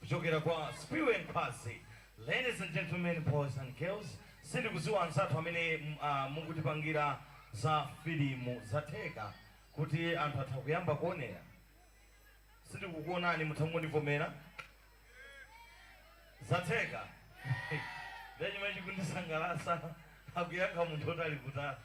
Kuchokera kwa Spiwe Nkhwazi Ladies and gentlemen, boys and girls sindikuziwa anzathu amene mukutipangira za filimu zatheka kuti anthu atha kuyamba kuonera sindikukuonani mutha kungondivomera zatheka ndiye chomwe chikundisangalasa akuyankha munthu oti ali kutali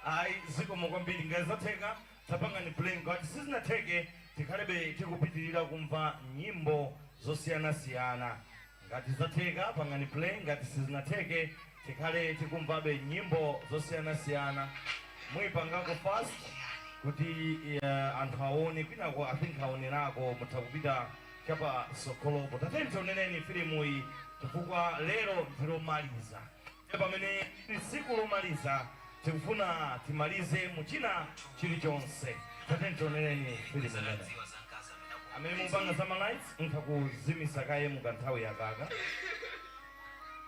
ayi zikomo kwambiri ngati zatheka Tapangani play ngati sizinatheke tikhalebe tikupitirira kumva nyimbo zosiyanasiyana ngati zatheka pangani play ngati sizinatheke tikhale tikumvabe nyimbo zosiyanasiyana muipangako fast kuti yeah anthu awone kwinako i think awonerako mutha kupita chapa tsogolopo tatiyeni tionereni filimuyi chifukwa lero ndi lomaliza. pamene liri tsiku lomaliza, tikufuna timalize mu china chirichonse. Tatiyeni tionereni filimu imeneyi. Amene mukupanga za ma lights mutha kuzimisa kaye mu kanthawi kakaka.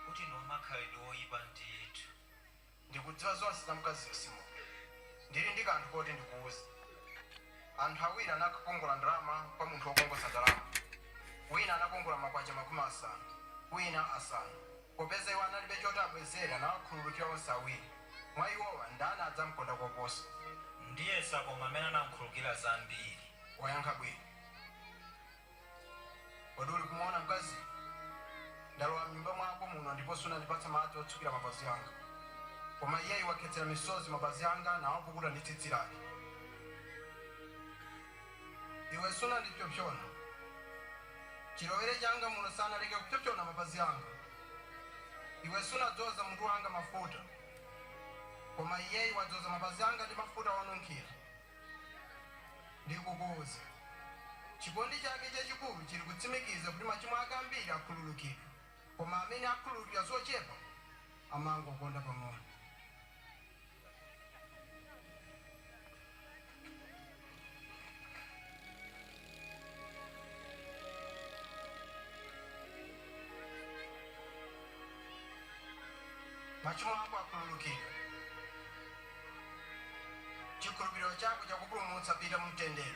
kuti ndi wamakhalidwe oipa ndithu. Ndikudziwa zonse za mkaziyo Simoni. Ndiri ndi kanthu koti ndikuuze. Anthu awiri anakongola ndalama kwa munthu wokongoza ndalama. Wina anakongola makwacha makumi asanu, wina asanu. Popeza iwo analibe choti abwezere, anawakhululukira onse awiri. Mwa iwowa, ndani adzam'konda koposa? Ndiyesa koma amene anam'khulukira zambiri. Wayankha bwino. Kodi uli kumuona mkaziyo? Ndalowa m'nyumba mwako muno ndipo sunandipatse madzi otsukira mapazi anga. Koma iyeyu wakhetsera misozi mapazi anga nawapukuta ndi tsitsi lake. Iwe sunandipsyopsyona chilowere changa muno, sanaleke kupsyopsyona mapazi Anga. Iwe sunadzoza mutu Wanga mafuta, koma Iyeyu wadzoza mapazi Anga ndi mafuta onunkhira. Ndikukuuza, chikondi Chake chachikulu chiri kutsimikiza kuti machimo ake ambiri akhululukidwa, koma amene akhululukidwa zochepa amangondikonda pang'ono. machimo ako akhululukidwa chikhulupiriro chako chakupulumutsa pita mu mtendere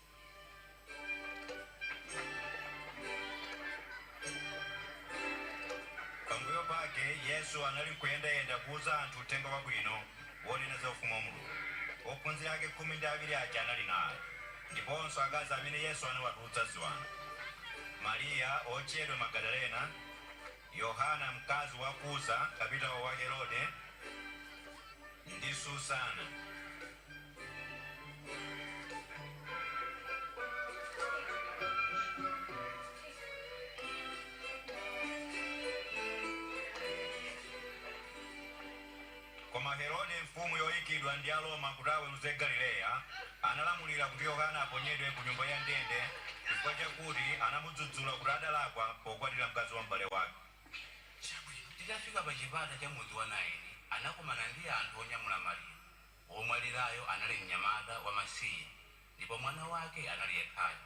Pambuyo pake, Yesu anali kuyendayenda kuuza anthu uthenga wabwino wonena za Ufumu wa Mulungu. Ophunzira ake khumi ndi awiri aja anali naye, ndiponso akazi amene Yesu anawatulutsa ziwanda, Mariya wotchedwa Magadalena, Yohana mkazi wa Kuza, kapitawo wa Herode, ndi Susana. Koma Herode, mfumu yoikidwa ndi Aroma kuti aweruze Galileya, analamulira kuti Yohane aponyedwe kunyumba ya ndende chifukwa chakuti anamudzudzula kuti adalakwa pokwatira mkazi wa m'bale wake. Atafika pachipata cha mudzi wa Nayini, anakumana ndi anthu onyamula maliro. Womwalirayo anali wa mayi wamasiye, ndipo mwana wake anali yekhayo.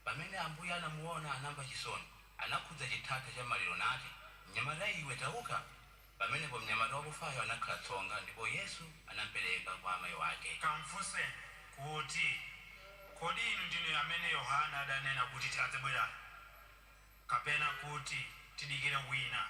Pamene Ambuye anamuona, anamva chisoni, anakhudza chithatha cha maliro nati, Mnyamata iwe, tauka! Pamenepo mnyamata wakufayo anakhala tsonga, ndipo Yesu anampereka kwa amai wake. Kamfunseni kuti, Kodi inu ndinu amene Yohane adanena kuti adzabwerayo, kapena kuti tidikire wina?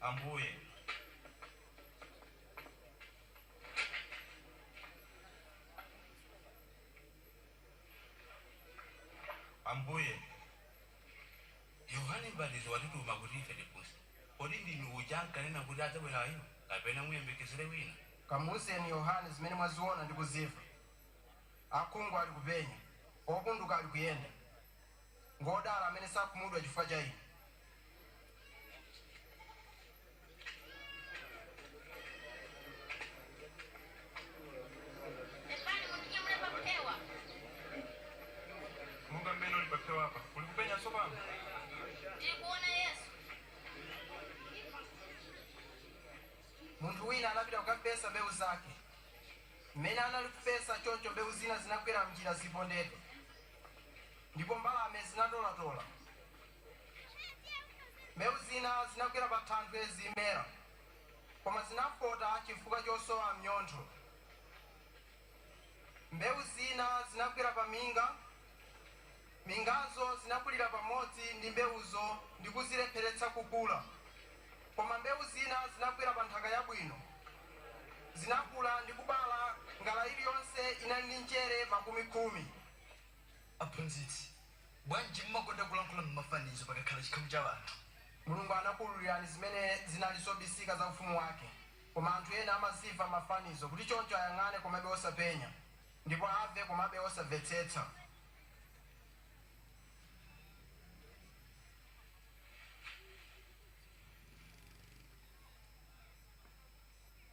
Ambuye. Ambuye, Yohane Mbatizi watituma kuti ife tifunse, Kodi ndinu uja ankanena kuti adzabwerayo, kapena tiyembekezere wina? Kamuuzeni Yohane zimene mwaziona ndi kuzimva, Akhungu alikupenya, opunduka alikuyenda, Ngwodala amene sakhumudwa chifukwa cha ine. Pepani, mundinyamule paphewa. Monga mmene uli paphewapa. Uli kupenya tsopano? Ndili kuona Yesu. Munthu wina anapita kukafesa mbewu zake. Mmene anali kufesa, choncho mbewu zina zinagwera m'njira zipondedwe. ndipo mbalame zinatolatola. Mbewu zina zinagwera pathanthwe zimera, koma zinafota chifukwa chosowa mnyontho. Mbewu zina zinagwera paminga. Mingazo zinakulira pamodzi ndi mbewuzo ndi kuzilepheretsa kukula. Koma mbewu zina zinagwera pa nthaka yabwino. Zinakula ndi kubala, ngala iliyonse inali ndi njere makumi khumi. Aphunzitsi, bwanji mumakonda kulankhula m'mafanizo pakakhala chikhamu cha anthu? Mulungu anakuululirani zimene zinali zobisika za Ufumu wake. Koma anthu ena amazimva m'mafanizo, kuti choncho ayang'ane komabe osapenya, ndipo amve komabe osamvetsetsa.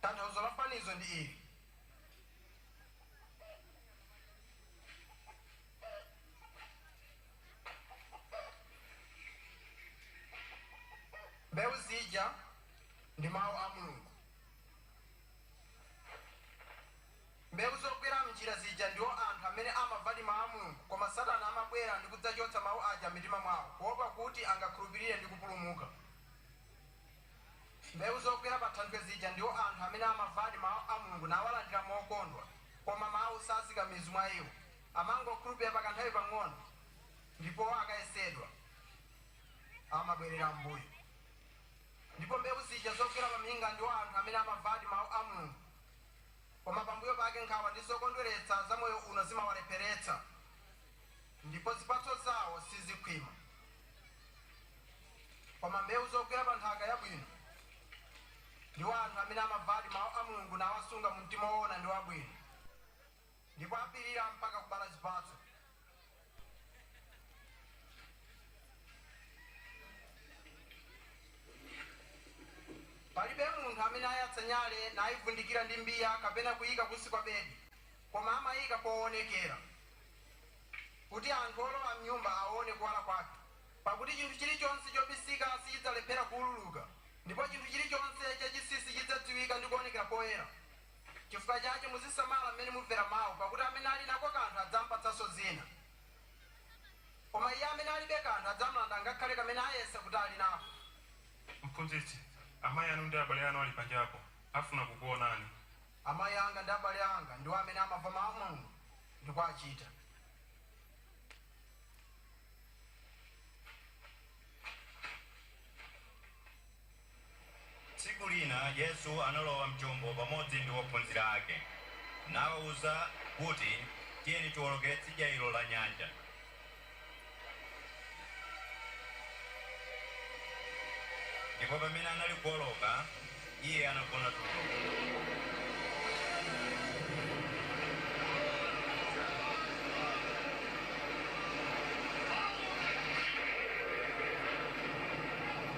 tanthauzo la fanizo ndi ili mbewu zija ndi mawu a mulungu Mbeu zogwera m'njira zija ndiwo anthu amene amavadi Mau a Mulungu, koma Satana amabwera ndi kudzachotsa Mau aja m'mitima mwao kuopa kuti angakhulupirire ndi kupulumuka. Mbeu zogwera pa thanthwe zija ndiwo anthu amene amavadi Mau a Mulungu nawalandira mokondwa, koma Mau sazika mizu mwa iwo. Amangokhulupirira pa kanthawi pang'ono, ndipo akayesedwa, amabwerera m'mbuyo. Ndipo mbeu zija zogwera pa miinga ndiwo anthu amene amavadi Mau a Mulungu. koma pambuyo pake nkhawa ndi zokondweretsa za moyo uno zimawalepheretsa, ndipo zipatso zawo sizikhwima. Koma mbeu zogwera pa nthaka yabwino ndiwo anthu amene amavadi mau a Mulungu nawasunga mu mtima woona ndi wabwino. ndipo apirira mpaka kubala zipatso. Palibe munthu amene ayatsa nyale naivundikira ndi mbiya kapena kuiika kunsi kwa bedi, koma amaiika poonekera, kuti anthu olowa m'nyumba aone kuwala kwake. Pakuti chinthu chilichonse chobisika sichidzalephera kuululuka, ndipo chinthu chilichonse chachinsinsi chidzadziwika ndi kuonekera poyera. Chifukwa chache muzisamala m'mene mumvera mau, pakuti amene ali nako kanthu adzampatsanso zina, koma iye amene alibe kanthu adzamlanda ngakhale kamene ayesa kuti ali nako. Mphunzitsi, Amai anu ndi abale anu ali panjapo, afuna kukuonani. Amai anga ndi abale anga ndiwo amene amamva mau a Mulungu ndi kuwachita. Tsiku lina Yesu analowa m'chombo pamodzi ndi ophunzira ake, nawawuza kuti, Tiyeni tiwolokere tsidya ilo la nyanja. Ndipo pamene anali kuwoloka, Iye anagona tulo.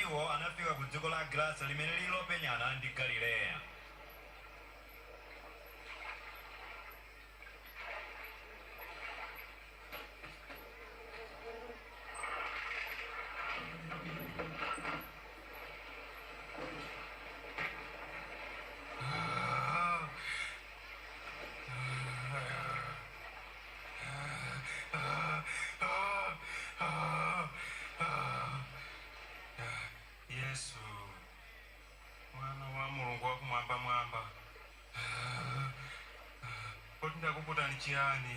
Iwo anafika ku dziko la Agerasa limene lili lopenyana ndi Galileya. Yesu, mwana wa Mulungu wakumwambamwamba, kodi ndakuputani chiyani?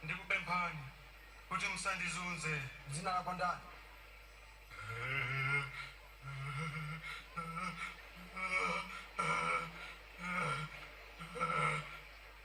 Ndikupemphani kuti musandizunze. Dzina lako ndani?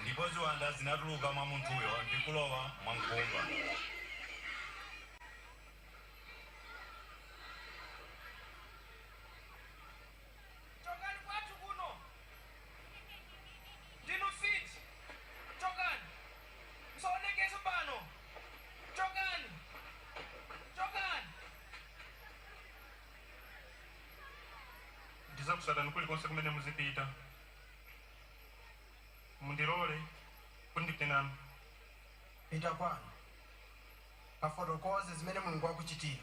Ndipo ziwanda zinatuluka mwa munthuyo ndi kulowa mwa nkhumba. chokani kwathu kuno ndinu mfiti chokani musaonekenso pano chokani chokani. Ndidzakutsatani kulikonse kumene muzipita mundilole kuti ndipite nanu. Pita kwanu kafotokoze zimene Mulungu wakuchitira.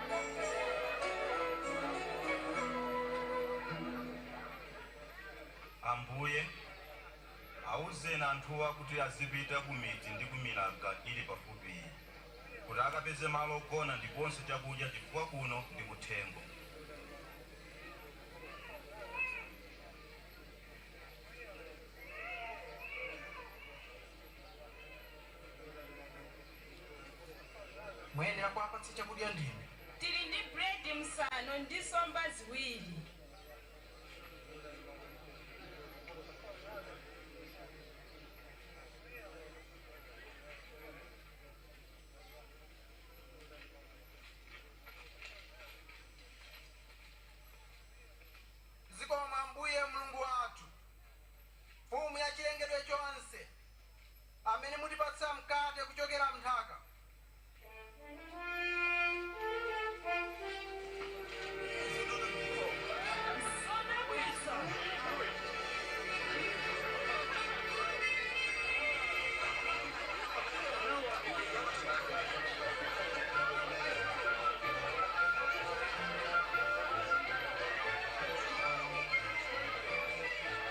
Ambuye, auzeni anthuwa kuti azipita kumidzi ndi kumilaga ili pafupiyi kuti akapeze malo ogona ndiponso chakudya chifukwa kuno ndi kuthengo. Muyenera kuwapatsa chakudya ndinu. Tili ndi buledi msanu ndi nsomba ziwiri. Zikomo Ambuye Mlungu wathu, Mfumu ya chilengedwe chonse. amene mutipatsa mkate kuchokera m'nthaka. Thank you.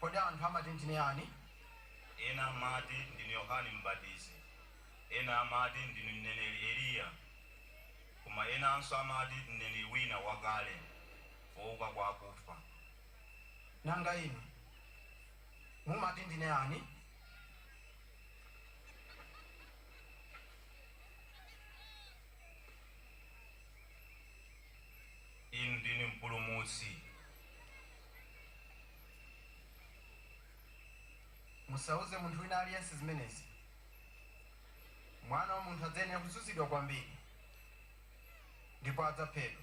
Kodi anthu amati ndine ani? Ena amati, Ndinu Yohane M'batizi, ena amati, Ndinu mneneri Eliya, koma enanso amati, Mneneri wina wakale, wouka kwa akufa. Nanga inu mumati ndine ani? Inu ndinu Mpulumutsi. Musauze munthu wina aliyense zimenezi. Mwana wa munthu adzayenera kuzunzidwa kwambiri ndipo adzaphedwa.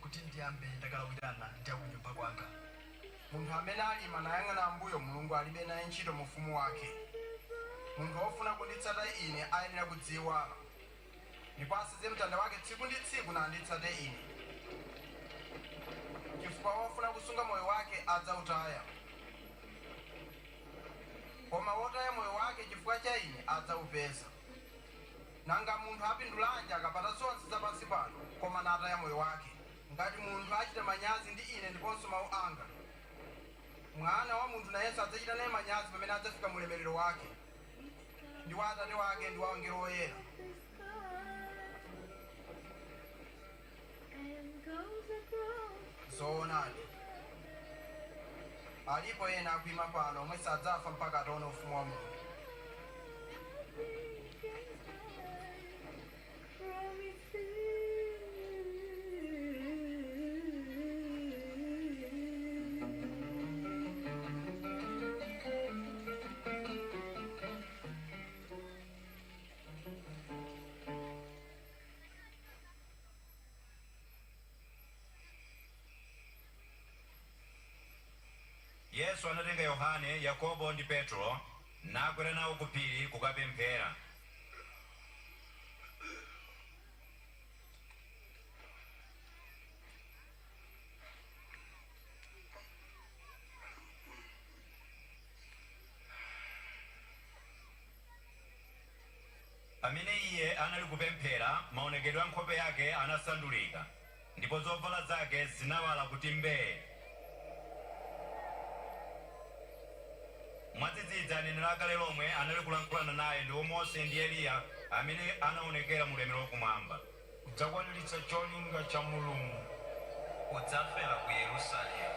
kuti ndiyambe ndakalawirana ndi akunyumba kwanga. Munthu amene alima nayang'ana m'mbuyo Mulungu alibe naye ntchito mu Ufumu wake. Munthu wofuna kunditsata Ine ayenera kudziiwala, ndipo asenze mtanda wake tsiku ndi tsiku nanditsate Ine. Chifukwa wofuna kusunga moyo wake adzautaya, koma wotaya moyo wake chifukwa cha Ine adzaupeza. Nanga munthu apindulanji akapata zonse za pansi pano, koma nataya moyo wake? Ngati munthu achita manyazi ndi Ine ndiponso mawu anga, Mwana wa munthu nayenso adzachita naye manyazi pamene adzafika m'ulemerero wake, ndi wa Atate wake ndi wa angelo oyera. Zoonadi, alipo ena akuyima pano omwe sadzafa mpaka ataona Ufumu wa Mulungu. Yesu anatenga Yohane, Yakobo ndi Petulo nakwera nawo ku phiri kukapemphera. Pamene iye anali kupemphera, maonekedwe a nkhope yake anasandulika, ndipo zovala zake zinawala kuti mbee. Mwadzidzidzi, aneneri a kale lomwe anali kulankhulana naye, ndiwo Mose ndi Eliya, amene anaonekera mu ulemerero wakumwamba. Kudzakwaniritsa cholinga cha Mulungu. Udzafera ku Yerusalemu.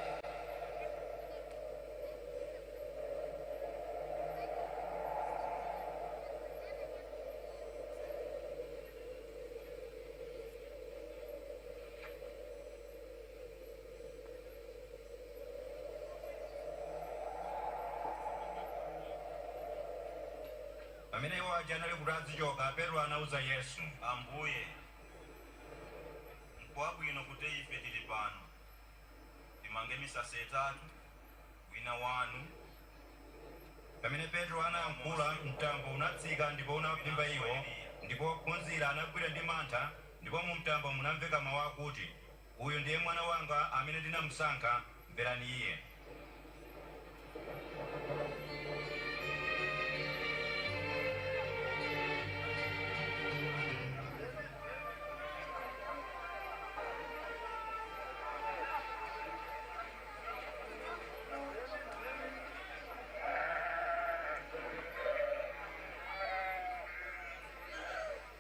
Pamene iwo aja anali kuti adzichoka, Petro anauza Yesu. Ambuye, nkwabwino kuti ife tili pano. Timange misasa itatu, wina Wanu. Pamene Petro anayankhula, mtambo unatsika ndipo unawaphimba iwo, ndipo ophunzira anagwidwa ndi mantha, ndipo mu mtambo munamveka mawu akuti. Uyu ndiye Mwana wanga amene ndinamsankha, mverani Iye.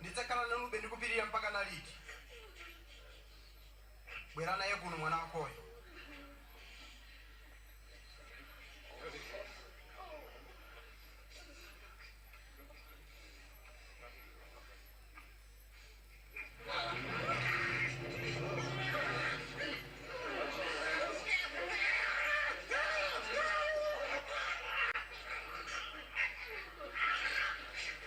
Ndidzakhala nanube mpaka liti ndi kupirira mpaka liti? Bwera naye kuno mwana wakoyo.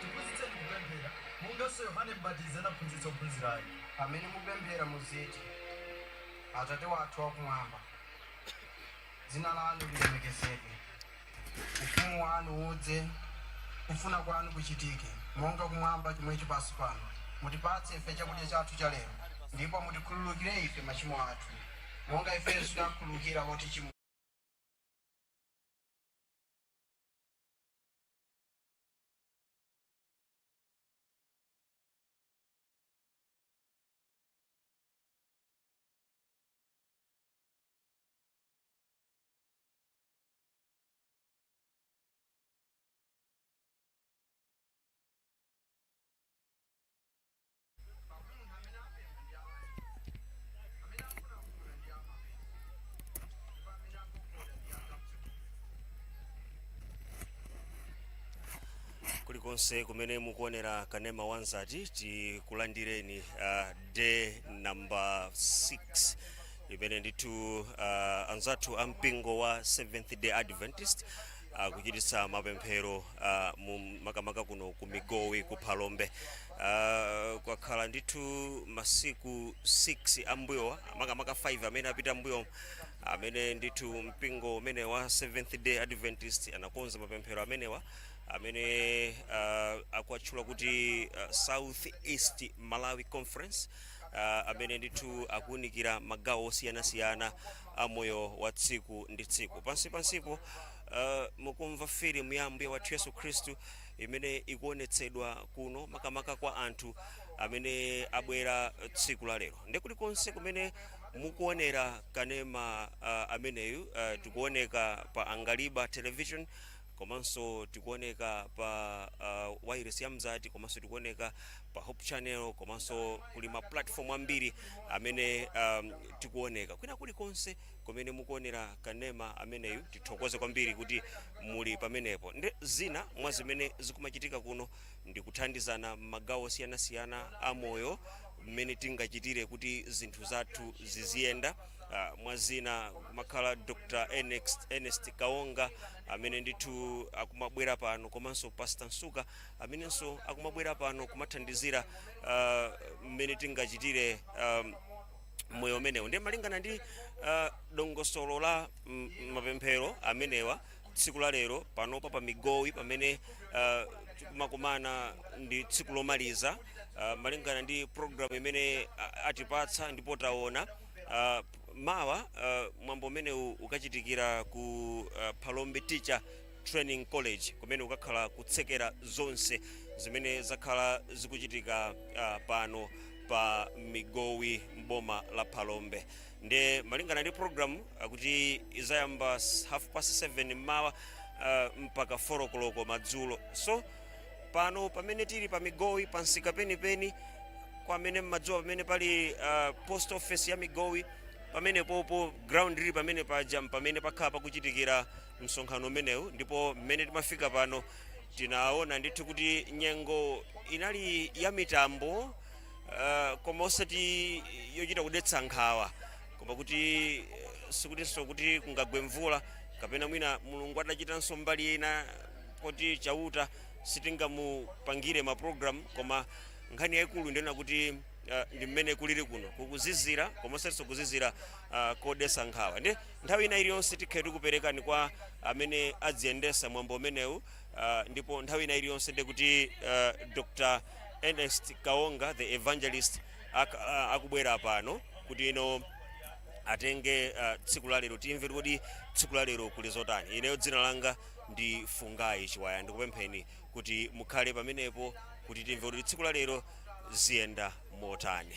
Tiphunzitseni kupemphera, monganso Yohane M'batizi anaphunzitsa ophunzira ake. Pamene mupemphera muziti, Atate wathu wakumwamba. Dzina lanu lilemekezedwe. Ufumu wanu udze. Kufuna kwanu kuchitike, monga kumwamba chomwecho pansu pano. Mutipatse ife chakudya chathu cha lero, ndipo mutikhululukire ife machimo athu, monga ifenso takhululukira otichimwira. kulikonse kumene mukuonera kanema wanzati tikulandireni uh, day number 6 limene ndithu uh, anzathu a mpingo wa seventh day adventist akuchititsa mapemphero uh, mu makamaka kuno ku migowi ku phalombe uh, kwakhala ndithu masiku 6 ambuyowa makamaka 5 amene apita mbuyo amene ndithu mpingo umene wa seventh day adventist anakonza mapemphero amenewa amene uh, akuwatchula kuti uh, south east malawi conference uh, amene ndithu akuunikira magawo osiyanasiyana a moyo wa tsiku ndi tsiku pansi pansipo uh, mukumva filimu ya ambuye wathu yesu khristu imene ikuonetsedwa kuno makamaka kwa anthu amene abwera tsiku la lero ndi kulikonse kumene mukuonera kanema uh, ameneyu uh, tikuoneka pa angaliba television komanso tikuoneka pa uh, wailesi ya mzati komanso tikuoneka pa hope channel komanso kuli ma platform ambiri amene um, tikuoneka kwina kulikonse kumene mukuonera kanema ameneyu tithokoze kwambiri kuti muli pamenepo ndi zina mwa zimene zikumachitika kuno ndi kuthandizana m'magawo osiyanasiyana a moyo mmene tingachitire kuti zinthu zathu ziziyenda. Mwa zina kumakhala Dr Ernest Kaonga amene ndithu akumabwera pano komanso Pastor Msuka amenenso akumabwera pano kumathandizira mmene uh, tingachitire um, mmoyo umenewu ndiye malingana ndi uh, dongosolo la mapemphero amenewa tsiku la lero panopa pa migowi pamene uh, tikumakumana ndi tsiku lomaliza uh, malingana ndi programu imene uh, atipatsa ndipo taona uh, mawa uh, mwambo umenewu ukachitikira ku uh, Phalombe Teacher Training College kumene ukakhala kutsekera zonse zimene zakhala zikuchitika uh, pano pa migowi mboma la Phalombe nde malingana ndi program akuti izayamba s- half past 7 mmawa uh, mpaka 4 o'clock madzulo so pano pamene tili pa migowi pansika penipeni kwa amene mmadziwa pamene pali uh, post office ya migowi pamene pompo ground ili pamene paja pamene pakhala pakuchitikira msonkhano umenewu ndipo mmene timafika pano tinaona ndithu kuti nyengo inali ya mitambo uh, koma osati yochita kudetsa nkhawa koma kuti eh, sikutinso kuti kungagwe mvula kapena mwina mulungu adachitanso mbali ina poti chauta sitingamupangire maprogramu koma nkhani yayikulu ndi yonena kuti uh, ndi mmene kulili kuno kukuzizira koma osatinso kuzizira uh, kodetsa nkhawa ndi nthawi ina iliyonse tikhale tikuperekani kwa amene adziyendesa mwambo umenewu Uh, ndipo nthawi ina iliyonse ndikuti uh, ah, Dr. Ernest Kaonga the evangelist ak, uh, akubwera pano kuti iwo atenge uh, tsiku la lero timve kuti tsiku la lero kuli zotani. Ineyo dzina langa ndi Fungai Chiwaya ndikupempheni kuti mukhale pamenepo kuti timve kuti tsiku la lero ziyenda motani.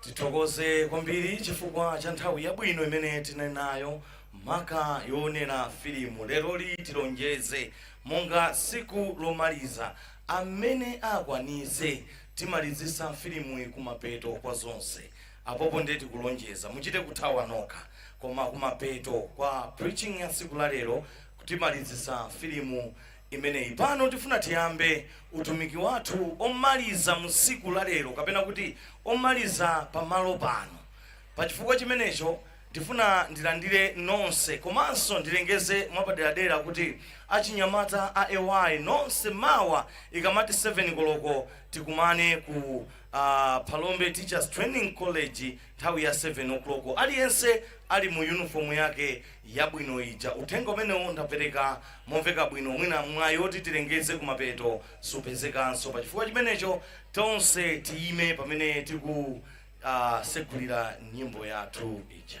tithokoze kwambiri chifukwa cha nthawi yabwino imene tinali nayo maka yoonera filimu leroli tilonjeze monga tsiku lomaliza amene akwanitse timalizitsa filimuyi kumapeto kwa zonse apapa ndiye tikulonjeza muchite kuthawa nokha koma kumapeto kwa preaching ya tsiku la lero timalizitsa filimu imeneyi. Pano tifuna tiyambe utumiki wathu omaliza mu tsiku la lero, kapena kuti omaliza pa malo pano. Pa chifukwa chimenecho, ndifuna ndilandire nonse komanso ndilengeze mwapaderadera kuti achinyamata a AY nonse mawa ikamati 7 koloko tikumane ku Phalombe Teachers Training College Nthawi ya 7 o'clock aliyense ali mu uniform yake yabwino ija. Uthenga umenewu ndapereka momveka bwino, mwina mwayi oti tilengeze kumapeto supezekanso. Pa chifukwa chimenecho tonse tiyime pamene tikusegulira nyimbo yathu ija.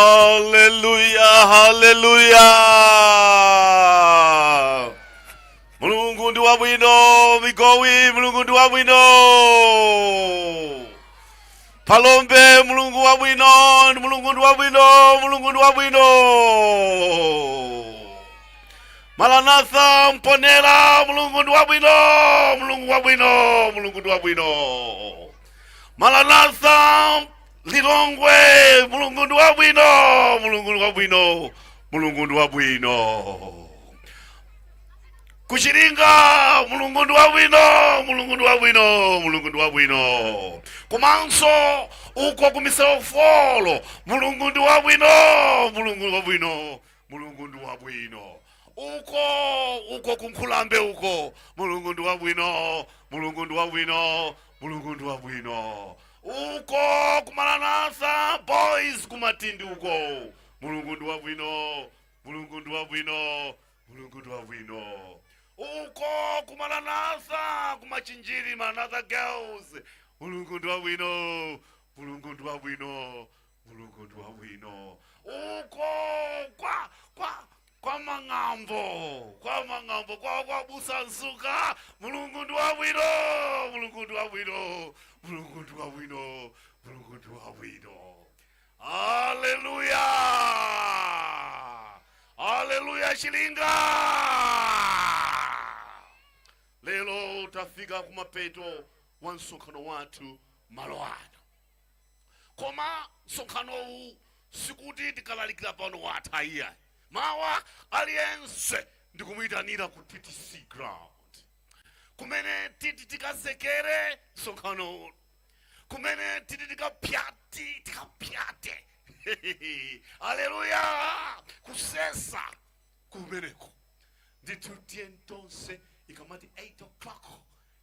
haleluya haleluya mulungu ndi wabwino migowi mulungu ndi wabwino Phalombe mulungu wabwino ndi mulungu ndi wabwino mulungu ndi wabwino maranatha mponera mulungu ndi wabwino mulungu wabwino mulungu ndi wabwino maranatha lilongwe mulungu ndi wabwino mulungu ndi wabwino mulungu ndi wabwino ku Chiringa mulungu ndi wabwino mulungu ndi wabwino mulungu ndi wabwino komanso uko ku Miseu Folo mulungu ndi wabwino mulungu ndi wabwino mulungu ndi wabwino uko uko ku Nkhulambe uko mulungu ndi wabwino mulungu ndi wabwino mulungu ndi wabwino uko ku Maranatha boys ku Matindi uko mulungu ndi wabwino mulungu ndi wabwino mulungu ndi wabwino uko ku Maranatha ku Machinjiri maranatha girls mulungu ndi wabwino mulungu ndi wabwino mulungu ndi wabwino uko kwa kwa kwa mang'ambo kwa mang'ambo kwa kwa busa msuka mulungu ndi wabwino mulungu ndi wabwino mulungu ndi wabwino mulungu ndi wabwino haleluya haleluya chilinga lero tafika kumapeto wa msonkhano wathu malo ano koma msonkhanowu sikuti tikalalikira pano watha iya mawa aliyense ndikumuyitanira ku ttc ground kumene titi tikatsekere msonkhano uno kumene titi tikapyati tikapyate aleluya kusesa kumeneko ndithu tiyeni tonse ikamati 8 o'clock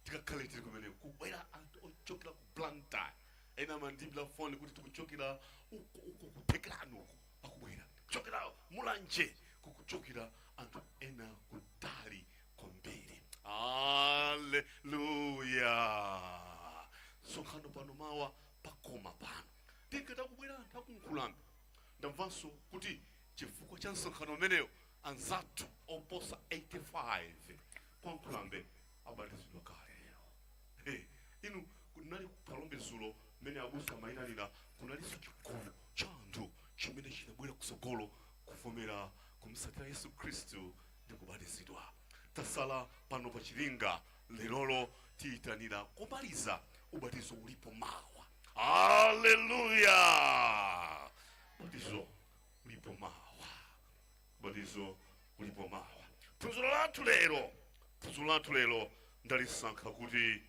Tikakhale tili kumeneko kubwera anthu ochokera ku Blantyre ena amandiimbira foni kuti tikuchokera uko uko ku Thekerani uko akubwera, tikuchokera Mulanje kukuchokera anthu ena kutali kwambiri. Aleluya! Msonkhano pano mawa pakoma pano. Ndiye kukubwera anthu a ku Nkhulambe, ndamvanso kuti chifukwa cha msonkhano umenewo anzathu oposa 85 kwa Nkhulambe abatizidwa kale lero. He, inu kunali ku Phalombe dzulo mmene abusa amayitanira kunalinso chigulu cha anthu chimene chinabwera kutsogolo kuvomera kumtsatira Yesu Khristu ndi kubatizidwa. Tasala pano pa chilinga lerolo tiyitanira komaliza ubatizo ulipo mawa. Haleluya! Ubatizo ulipo mawa. Ubatizo ulipo mawa. Phunziro lathu lero, phunziro lathu lero ndalisankha kuti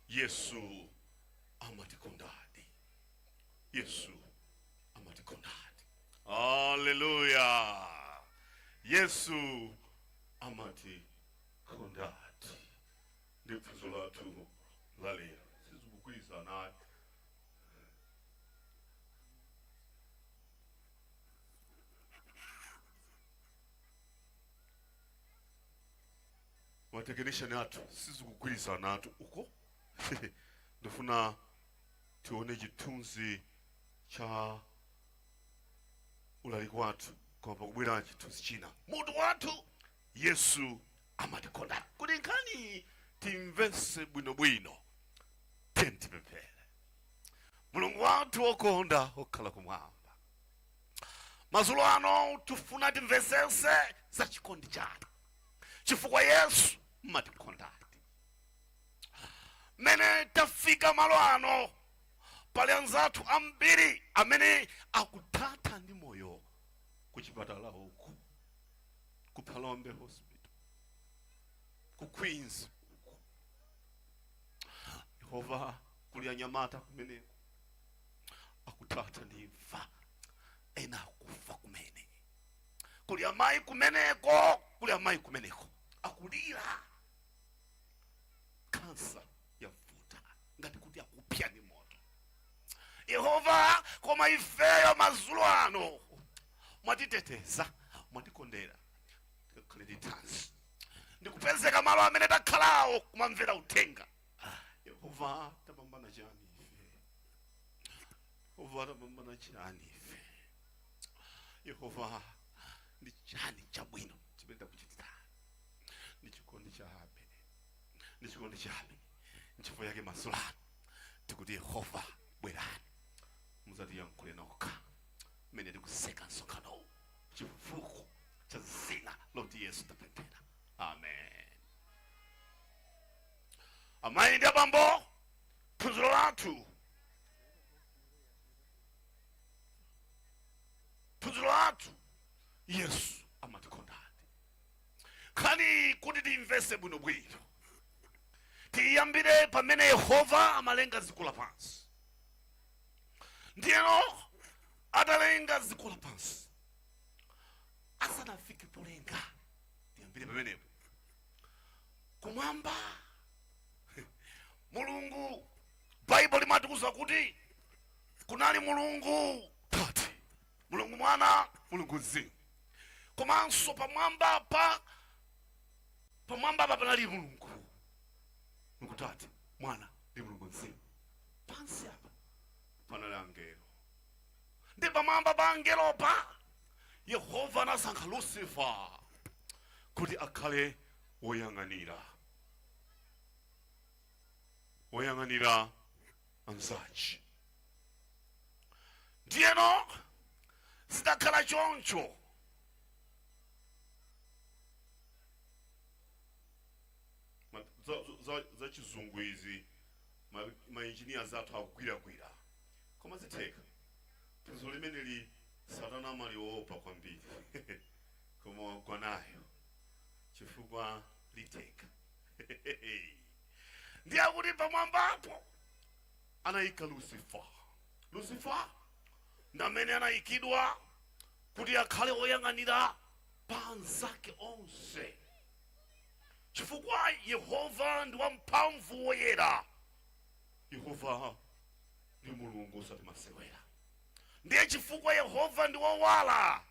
Yesu amatikondadi. Yesu amatikondadi. Haleluya! Yesu amatikondadi. Ndi phunziro lathu la lero. Sizikugwirizanatu. matekinishani athu sizikugwirizanatu uko ndifuna tione chithunzi cha ulaliki wathu apa kwabwera chithunzi china mutu wathu yesu amatikonda. Kuti nkhaniyi timvetse bwinobwino, tiyeni tipemphere. Mulungu wathu wokonda wokhala kumwamba, madzulo ano tifuna timvetsetse za chikondi chanu, chifukwa Yesu mumatikondadi. Mmene tafika malo ano, pali anzathu ambiri amene akuthatha ndi moyo kuchipatala uku. ku phalombe hospital ku queens uko yehova kuli anyamata kumeneko akuthatha ndi imfa ena akufa kumene kuli amayi kumeneko kuli amayi kumeneko akulira kansa yavuta ngati kuti akupsa ni moto yehova koma ifeyo madzulo ano mwatiteteza mwatikondera tikukhala ndi thanzi ndikupezeka malo amene takhalawo kumamvera uthenga yehova tapambana chani ife yehova tapambana chani ife yehova ndi chani chabwino chimene takuchitira ndi chikondi chabe ndi chikondi chabe nchifukwa yake madzulo ano tikuti yehova bwerani mudzatiyankhule nokha mmene tikutseka msonkhanowu chifukwa cha dzina loti yesu tapemphera amen amayi ndi abambo phunziro lathu phunziro lathu yesu nkhaniyi kuti tiyimvetse bwinobwino tiyambire pamene yehova amalenga dziko lapansi ndiyeno atalenga dziko lapansi asanafike polenga tiyambire pamenepo kumwamba mulungu baibulo limatiuza kuti kunali mulungu tate mulungu mwana mulungu mzimu komanso pamwambapa pamwambapa panali mulungu mulungu tate mwana ndi mulungu mzimu pansi apa panali angelo ndi pamwamba pa angelopa yehova anasankha lusifa kuti akhale woyang'anira woyang'anira anzache ndiyeno zidakhala choncho Ma- za- za- za chizungu izi ma- mainjiniya zathu akugwiragwira koma zitheka phunziro limeneli satana amaliwopa kwambiri koma wagwa nayo chifukwa litheka ndiye akuti pamwambapo anayika lusifa lusifa ndamene anayikidwa kuti akhale oyang'anira pa anzake onse chifukwa yehova ndi wamphamvu woyera yehova ndi mulungu osati masewera ndiye chifukwa yehova ndi wowala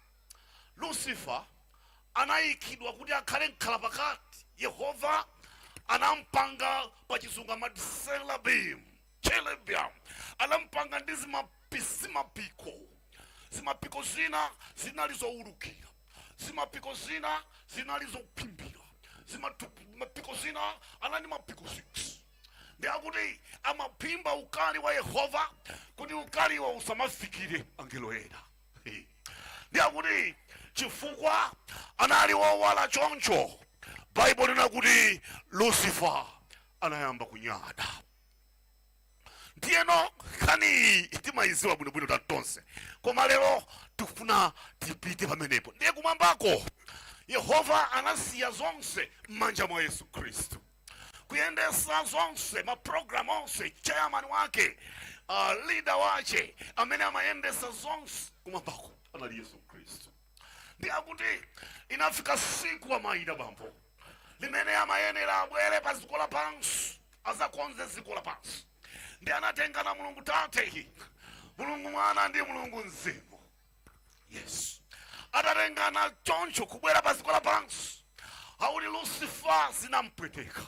Lusifa anaikidwa kuti akhale mkhalapakati. Yehova anampanga pa chizungu amati seraphim, cherubim. Anampanga ndi zimapiko. Zimapiko zina zinali zoulukira, zimapiko zina zinali zophimbira, zimapiko zina anali ndi mapiko 6. Ndiye akuti amaphimba ukali wa Yehova kuti ukaliwo usamafikire angelo ena. ndiye akuti chifukwa anali wowala choncho baibulo linena kuti lucifer anayamba kunyada ndiyeno nkhani iyi timayiziwa bwinobwino ta tonse koma lero tifuna tipite pamenepo ndiye kumwambako yehova anasiya zonse m'manja mwa yesu khristu kuyendesa zonse maprogramu onse chairman wake uh, leader wace amene amayendesa zonse kumwambako anali yesu khristu ndiye akuti inafika tsiku amayita bambo limene amayenera abwere pa dziko lapansi adzakonze dziko lapansi ndiye anatengana mulungu tate mulungu mwana ndi mulungu mzimu yesu atatengana choncho kubwera pa dziko lapansi akuti lusifa zinampweteka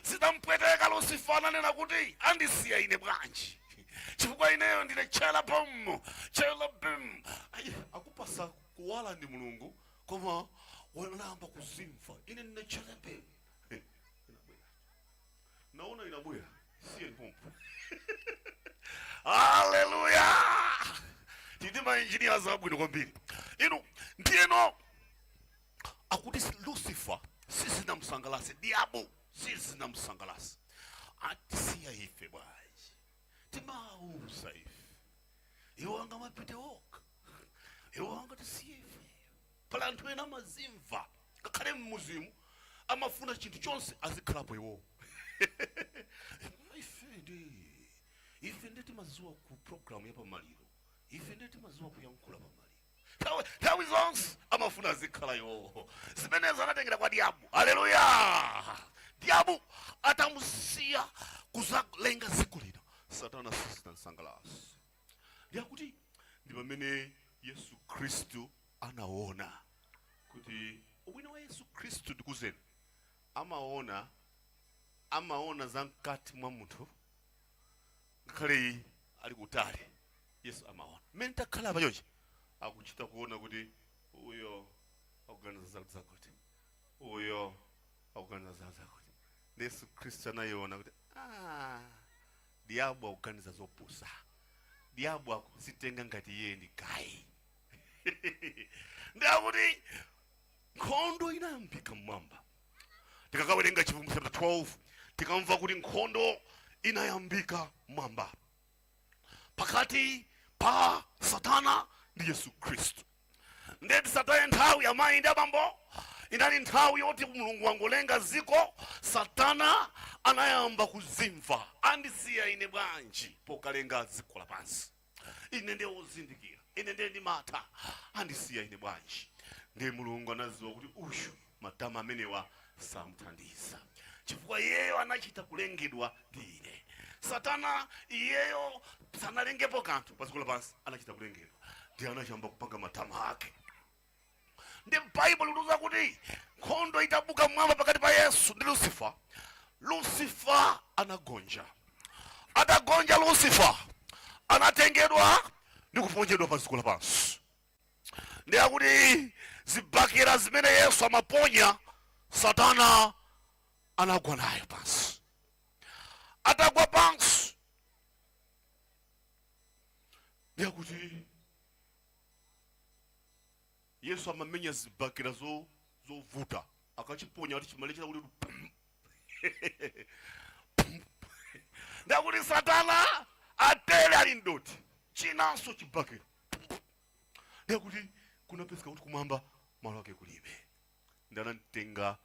zinampweteka lusifa ananena kuti andisiya ine bwanji chifukwa ineyo ndine cherubim cherubim Ayi, akupatsa kuwala ndi mulungu koma wayamba kuzimva ine ndine cherubim naona inabwera isiyeni pompo haleluya tili mainjiniya zabwino kwambiri inu ndiyeno akuti si- lucifer sizinamsangalatse diabo sizinamsangalatse atisiya ife bwanji timauza ife iwo angamapite okha iwo angatisiya ife Pali anthu ena amazimva ngakhale mumzimu amafuna chinthu chonse azikhalapo iwowo ife nde ife nde timaziwa za program ya pamaliro ife nde timaziwa kuyankhula pamaliro nthawi nthawi zonse amafuna azikhala iwowo zimenezo anatengera kwa diabulo haleluya diabulo atamusiya kuzalenga dziko lino satana sizinamsangalase ndiye akuti ndi pamene yesu khristu anaona kuti ubwino wa yesu khristu ndikuuzeni amaona amaona za mkati mwa munthu ngakhale iye ali kutali yesu amaona mmene takhala apa chonchi akuchita kuona kuti uyo akuganiza za- zakuti uyo akuganiza za zakuti ndi yesu khristu anaona kuti "Ah, Diabulo akuganiza zopusa. Diabulo akuzitenga ngati iye ndi gayi. Nde akuti nkhondo inayambika mmwamba. Tikakawerenga Chivumbulutso chapter 12 tikamva kuti nkhondo inayambika mmwamba pakati pa Satana ndi Yesu Khristu. nde tisataye nthawi amayi ndi abambo inali nthawi yoti mulungu wangolenga ziko satana anayamba kuzimva andisiya ine bwanji pokalenga dziko lapansi ine ndi wozindikira ine ndiye ndimatha andisiya ine bwanji ndiye mulungu anaziwa kuti uyu Matama amenewa samthandiza, chifukwa iyeyo anachita kulengedwa ndi ine. Satana, iyeyo sanalengepo kanthu pa dziko lapansi, anachita kulengedwa, ndiye anayamba kupanga matama ake. Ndi Baibulo likutiuza kuti nkhondo itabuka mmwamba pakati pa Yesu ndi Lusifa, Lusifa anagonja. Atagonja Lusifa anatengedwa ndi kuponjedwa pa dziko lapansi. ndiye akuti zibakera zimene yesu amaponya satana anagwa nazo pansi atagwa pansi ndiye akuti yesu amamenya zibakera zo- zovuta akachiponya akuti chimalekera kuti pum. Pum. nde akuti satana atele ali mdoti chinanso chibakera nde akuti kunapezeka kuti kumwamba malo ake kulibe ndi anamtenga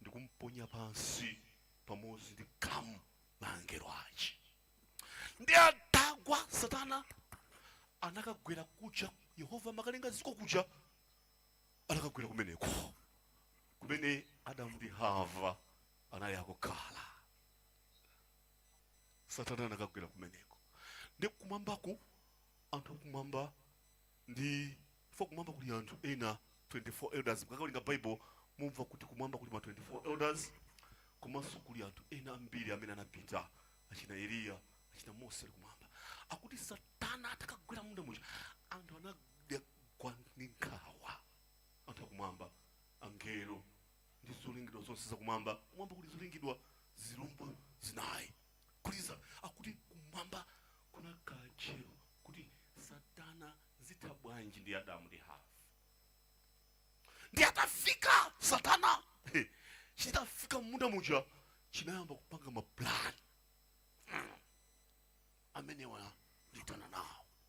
ndikumponya pansi pamodzi ndi khamu la angelo ace ndi atagwa satana anakagwera kuja yehova amakalenga ziko kuja anakagwera kumeneko kumene adamu ndi hava anali akukhala satana anakagwera kumeneko ndi kumwambako anthu akumwamba ndi chifukwa kumwamba kuli anthu ena 24 elders mukakawerenga baibulo mumva kuti kumwamba kuli ma 24 elders komanso kuli anthu ena ambiri amene anapita achina eliya achina mose ali kumwamba akuti satana atakagwera mmunda muja anthu anada nazo nkhawa anthu akumwamba angelo ndi zolengedwa zonse zakumwamba kumwamba kuli zolengedwa zilombo zinayi kuliza akuti kumwamba kunakhala tcheru kuti satana zitha bwanji ndi adamu ndi hava ndi atafika satana he, chitafika mmunda muja chinayamba kupanga mapulani amenewa nditana nawo